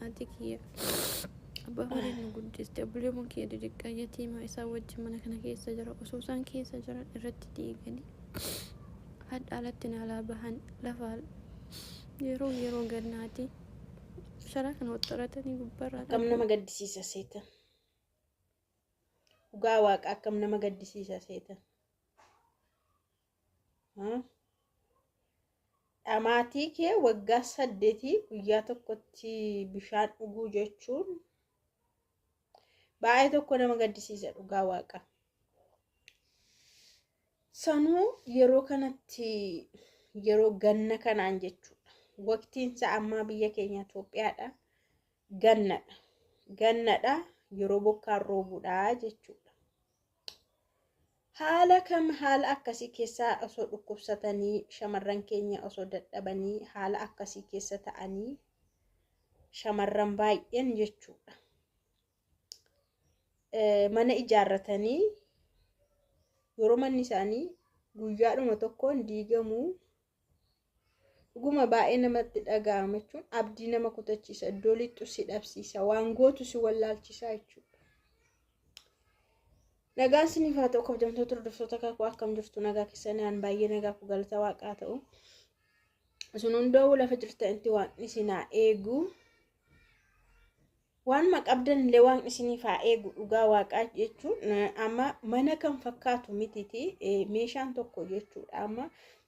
Haati kiyya abbaa horii nu guddiste obboleewwan kiyya didhiqqaa yatiimaa isaa wajjin mana kana keessa jira osoo isaan keessa jiran irratti diiganii hadha alatti naalaa bahan lafaa yeroo yeroo gannaati sharaa kana waxxaratanii gubbarraa akkam nama gaddisiisa seetan dhugaa waaqa akkam nama gaddisiisa seetan Dhamaatii kee waggaa saddeetii guyyaa tokkotti bishaan dhuguu jechuun baay'ee tokko nama gaddisiisa dhugaa waaqa. Sanuu yeroo kanatti yeroo ganna kanaan jechuudha. Waqtiin isaa ammaa biyya keenya Itoophiyaadha. Gannadha. Gannadha yeroo bokkaan roobudha jechuudha. Haala kam haala akkasii keessaa osoo dhukkubsatanii shamarran keenya osoo dadhabanii haala akkasii keessa ta'anii shamarran baay'een jechuudha. Mana ijaarratanii yeroo manni isaanii guyyaadhuma tokkoon diigamuu Dhuguma baay'ee namatti dhaga'ama jechuun abdii nama kutachiisa iddoo lixxu si dhabsiisa waan gootu si wallaalchisaa jechuudha. Nagaan siniif haa ta'u kabajamtoota hordoftoota kakuu akkam jirtu nagaa keessan aan baay'ee nagaa koo galata waaqaa ta'u. Isin hundoo lafa jirtanitti waaqni isin haa eegu. Waanuma qabdan illee waaqni isiniif haa eegu dhugaa waaqaa jechuun amma mana kan fakkaatu mititi meeshaan tokko jechuudha amma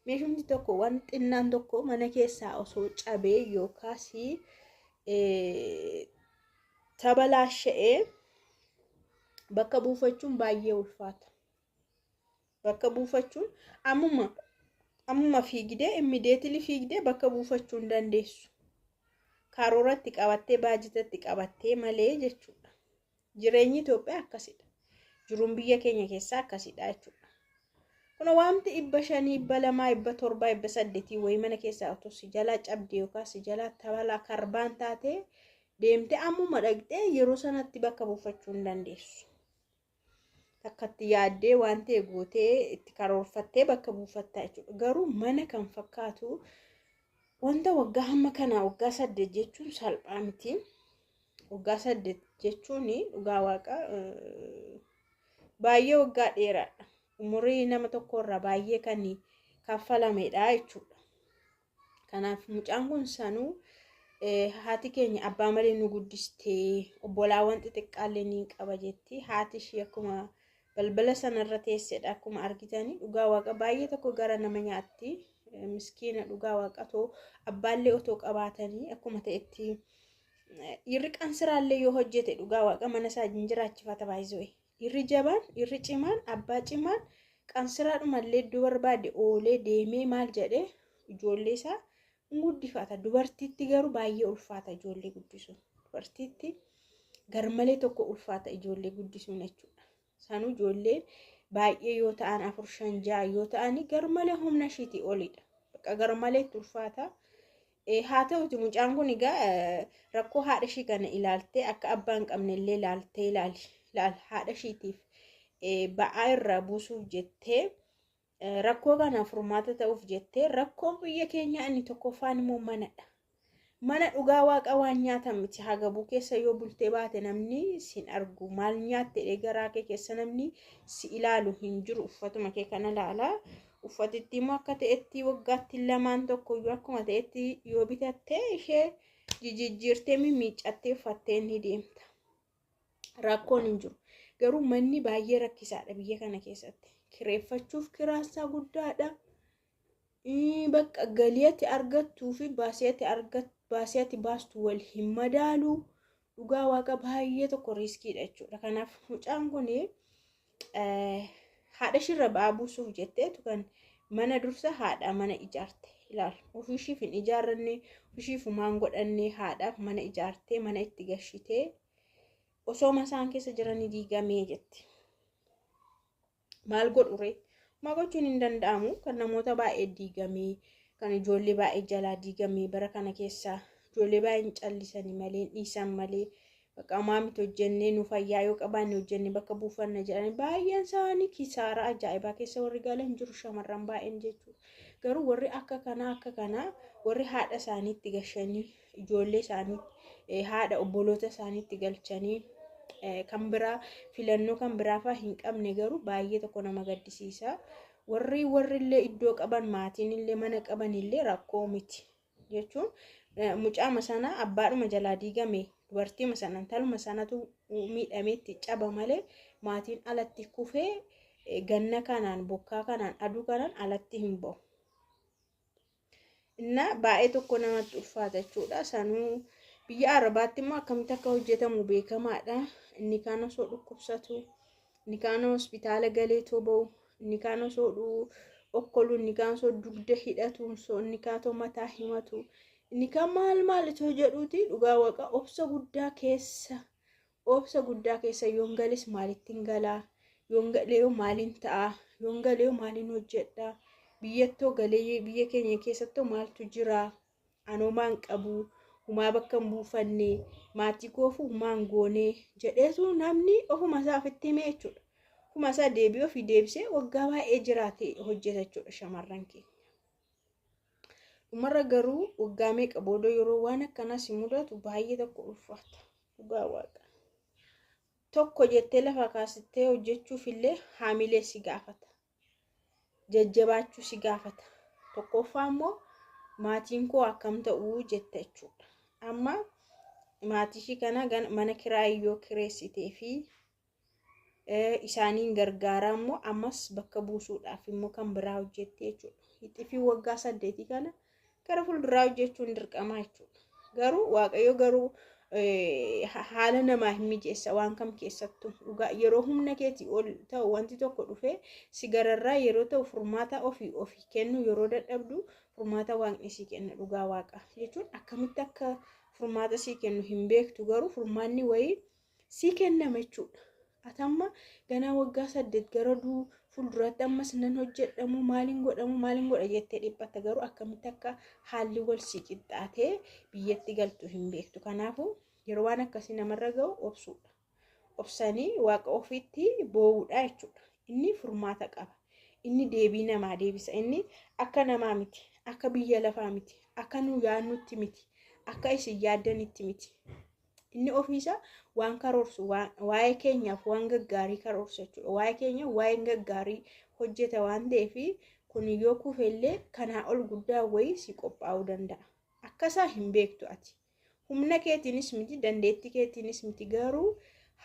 meeshumti tokko waan xinnaan tokko mana keessaa osoo cabee yookaas tabalaasha'ee bakka buufachuun baay'ee ulfaata. bakka buufachuun ammuma ammuma fiigdee immideetili fiigdee bakka buufachuu hin dandeessu. Karooratti qabattee baajitatti qabattee malee jechuudha. Jireenyi Itoophiyaa akkasidha. Jiruun biyya keenya keessaa akkasidha jechuudha. Kun wanti dhibba shanii, dhibba lamaa, dhibba torbaa, dhibba saddeetii wayii mana keessaa otoo si jalaa cabdee yookaan si jalaa tabalaa karbaan taatee deemtee ammuma dhaqxee yeroo sanatti bakka buufachuu hin dandeessu. takkatti yaaddee waan ta'e gootee itti karoorfattee bakka buufatta jechuudha. Garuu mana kan fakkaatu wanta waggaa hamma kanaa waggaa saddeet jechuun salphaa miti. Waggaa saddeet jechuun dhugaa waaqa baay'ee waggaa dheeraadha. Umurii nama tokkorraa baay'ee kan kaffalamedha jechuudha. Kanaaf mucaan kun sanuu haati keenya abbaa malee nu guddistee obbolaawwan xixiqqaallee ni qaba jetti. Haati ishii akkuma balbala sanarra teessedha akkuma argitanii dhugaa waaqa baay'ee tokko gara nama nyaatti. Miskiina dhugaa waaqa too abbaallee otoo qabaatanii akkuma ta'etti dhiirri qansiraallee yoo hojjete dhugaa waaqa mana isaa hin jiraachifata baay'isuu. Dhiirri jabaan, dhiirri cimaan, abbaa cimaan qansiraadhumallee iddoo barbaade oolee deemee maal jedhee ijoollee isaa hin guddifata. Dubartiitti garuu baay'ee ulfaata ijoollee guddisuun. Dubartiitti garmalee tokko ulfaata ijoollee guddisuun jechuudha. Sanuu ijoolleen baay'ee yoo ta'an afur shan ja'a yoo ta'an garmalee humna ishiitii olidha. Bakka garmalee itti ulfaata. Haa ta'uti mucaan kun egaa rakkoo haadha ishii kana ilaaltee akka abbaa hin qabne illee ilaaltee ilaali. Ilaal haadha ishiitiif ba'aa irraa buusuuf jettee rakkoo kana furmaata ta'uuf jettee rakkoon biyya keenyaa inni tokkoffaan immoo manadha. Mana dhugaa waaqa waan nyaatan miti hagabuu keessa yoo bultee baate namni sin argu maal nyaatte garaa kee keessa namni si ilaalu hin jiru uffatuma kee kana ilaalaa. Uffatittii immoo akka ta'etti waggaatti lamaan tokkoyyuu akkuma ta'etti yoo bitattee ishee jijijjiirtee mimmiiccattee uffattee ni deemta. Rakkoon hin jiru. Garuu manni baay'ee rakkisaadha biyya kana keessatti. Kireeffachuuf kiraassaa guddaadha. Ii, Bakka galii ati argattuu fi baasii ati argat- baasii ati baastu wal hin madaalu. dhugaa waaqa baay'ee tokko riiskiidha jechuudha. Kanaaf mucaan kun haadha ishirra ba'aa buusuuf jetteetu kan mana dursa haadha mana ijaarte ilaal ofiishiif hin ijaarranne ofiishiif humaan godhanne haadhaaf mana ijaartee mana itti gashitee osoo masaan keessa jiranii diigamee jetti. maal godhure ma gochuun hin danda'amu kan namoota baay'ee diigamee kan ijoollee baay'ee jalaa diigamee bara kana keessaa ijoollee baay'ee hin callisanii malee dhiisan malee bakka amaa miti hojjennee nu fayyaa yoo qabaanne hojjennee bakka buufanna jedhanii baay'een isaanii kisaaraa ajaa'ibaa keessa warri galan jiru shamarran baay'een jechuudha garuu warri akka kanaa akka kanaa warri haadha isaaniitti gashanii ijoollee isaanii eh, haadha obboloota isaaniitti galchanii eh, kan biraa filannoo kan biraafaa hin qabne garuu baay'ee tokko nama gaddisiisa. Warri warri illee iddoo qaban maatiin illee mana qaban illee rakkoo miti jechuun eh, mucaama sana abbaadhuma jalaa diigame dubartiima sana intaluma sanatu miidhameetti caba malee maatiin alatti kufee eh, ganna kanaan bokkaa kanaan aduu kanaan alatti hin ba'u. Inna baay'ee tokko namatti ulfaata jechuudha. Sanuu biyya Arabaatti immoo akkamitti akka hojjetamu beekamaadha. Inni kaan osoo dhukkubsatu, inni kaan hospitaala galeetoo ba'u, inni kaan osoo dhuu okkolu, inni kaan osoo dugda hidhatu, osoo inni kaan osoo mataa himatu, inni kaan maal maal osoo jedhuuti dhugaa waqa obsa guddaa keessa Obsa guddaa keessa yoon gales maalittin galaa? Yoon galeeyoo maalin ta'a? Yoon galeeyoo maalin hojjedha? Biyyattoo galee biyya keenya keessattoo maaltu jira? Anoo maan qabu? Humaa bakka hin buufanne? Maatii koofuu maan goone? Jedheetu namni ofuma isaa ofitti himee jechuudha. Ofuma isaa deebi'ee ofii deebisee waggaa baay'ee jiraate hojjeta jechuudha shamarran keenya. Dhumarra garuu waggaa meeqa booda yeroo waan akkanaa si mudatu baay'ee tokko ulfaata. Dhugaa waaqa. Tokko jettee lafa kaasittee hojjechuuf illee haamilee si gaafata. Jajjabaachuu si gaafata. Tokkoffaa immoo maatiin koo akkam ta'uu jetta jechuudha. Amma maatii ishii kana mana kiraa yoo kireessitee fi isaaniin gargaaraa immoo ammas bakka buusuudhaaf immoo kan biraa hojjetti jechuudha. Hixifii waggaa saddeetii kana gara fuulduraa hojjechuun dirqamaa jechuudha. Garuu waaqayyo garuu haala namaa hin mijeessa waan kam keessattu dhugaa yeroo humna keetii ol ta'u wanti tokko dhufee si gararraa yeroo ta'u furmaata ofii ofii kennu yeroo dadhabdu furmaata waaqni sii kenna dhugaa waaqa jechuun akkamitti akka furmaata sii kennu hin beektu garuu furmaanni wayii sii kennama jechuudha. Ati amma ganaa waggaa saddeet gara duu fuulduraatti ammas nan hojjedhamu maaliin godhamu maaliin godha jettee dhiphatta garuu akkamitti akka haalli wal sii qixxaatee biyyatti galtu hin beektu. Kanaafuu yeroo waan akkasii namarra ga'u obsuudha. Obsanii waaqa ofiitti boo'uudha jechuudha. Inni furmaata qaba. Inni deebii namaa deebisa. Inni akka namaa miti. Akka biyya lafaa miti. Akka nu yaadnutti miti. Akka isin yaaddanitti miti. Inni ofiisaa waan karoorsu waa'ee keenyaaf waan gaggaarii karoorsa jechuudha. Waa'ee keenya waa'een gaggaarii hojjeta waan ta'eef kun yoo kufe illee kanaa ol guddaa wayii si qophaa'uu danda'a. Akkasaa hin beektu ati. Humna keetiinis miti dandeettii keetiinis miti garuu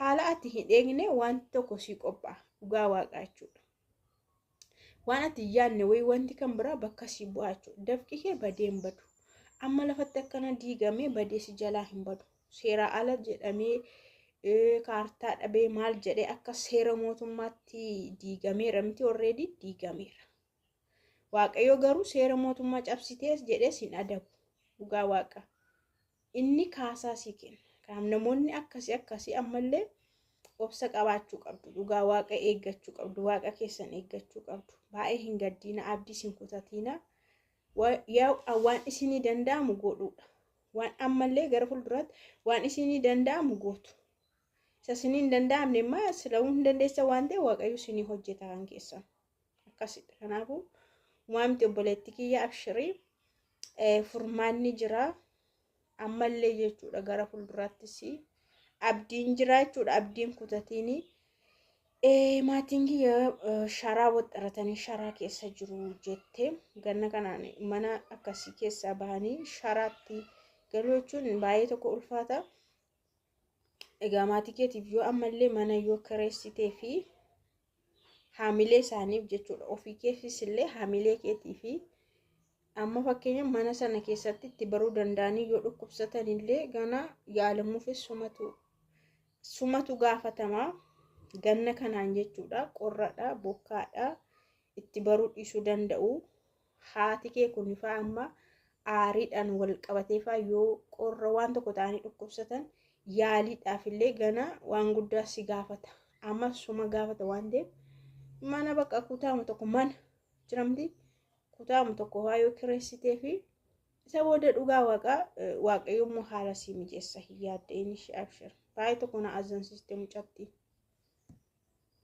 haala ati hin eegne wanti tokko si qophaa'a dhugaa waaqaa jechuudha. waan ati hin yaadne wayii wanti kan biraa bakka si bu'aa jechuudha. Dafqi kee badee hin badu. Amma lafatti akkana diigamee badee si jalaa hin badu. Seeraa ala jedhamee kaartaa dhabee maal jedhee akka seera mootummaatti diigameera miti orreedii diigameera. Waaqayyo garuu seera mootummaa cabsitees jedhees hin adabu. Dhugaa waaqa. Inni kaasaa sii kenna. Kanaaf namoonni akkasii akkasii ammallee obsa qabaachuu qabdu. Dhugaa waaqa eeggachuu qabdu. Waaqa keessan eeggachuu qabdu. Baay'ee hin gaddiina abdiis hin kutatiina. Wa- yaa- a- Waan isinii danda'amu godhuudha. Waan ammallee gara fuulduraatti waan isinii danda'amu gootu. Isa isinii hin danda'amne immoo sila'uu hin dandeessa waan ta'e waaqayyo isinii hojjeta kan keessan. akkasidha kanaafu umaa miti obboleetti kiyya abshirii furmaanni jira ammallee jechuudha gara fuulduraattis abdiin jira jechuudha abdiin kutatiini maatiin kiyya sharaa waxxaratanii sharaa keessa jiru jette ganna kanaan mana akkasii keessaa bahanii sharaatti galuu jechuun baay'ee tokko ulfaata Egaa maatii keetiif yoo ammallee mana yoo kireessitee fi haamilee isaaniif jechuudha ofii keefis illee haamilee keetii fi amma fakkeenya mana sana keessatti itti baruu danda'anii yoo dhukkubsatan illee gana yaalamuufis sumatu sumatu gaafatama ganna kanaan jechuudha qorradha bokkaadha itti baruu dhiisuu danda'u haati kee kunifaa amma aariidhaan wal qabateefaa yoo qorra waan tokko ta'anii dhukkubsatan yaaliidhaaf illee gana waan guddaa si gaafata amma suma gaafata waan ta'eef mana bakka kutaama tokko mana jiramti kutaama tokko waa yoo kireessitee fi isa booda dhugaa waaqaa waaqayyo immoo haala sii mijeessa hin yaaddeen ishee abshir baay'ee tokko na azansiiste mucatti.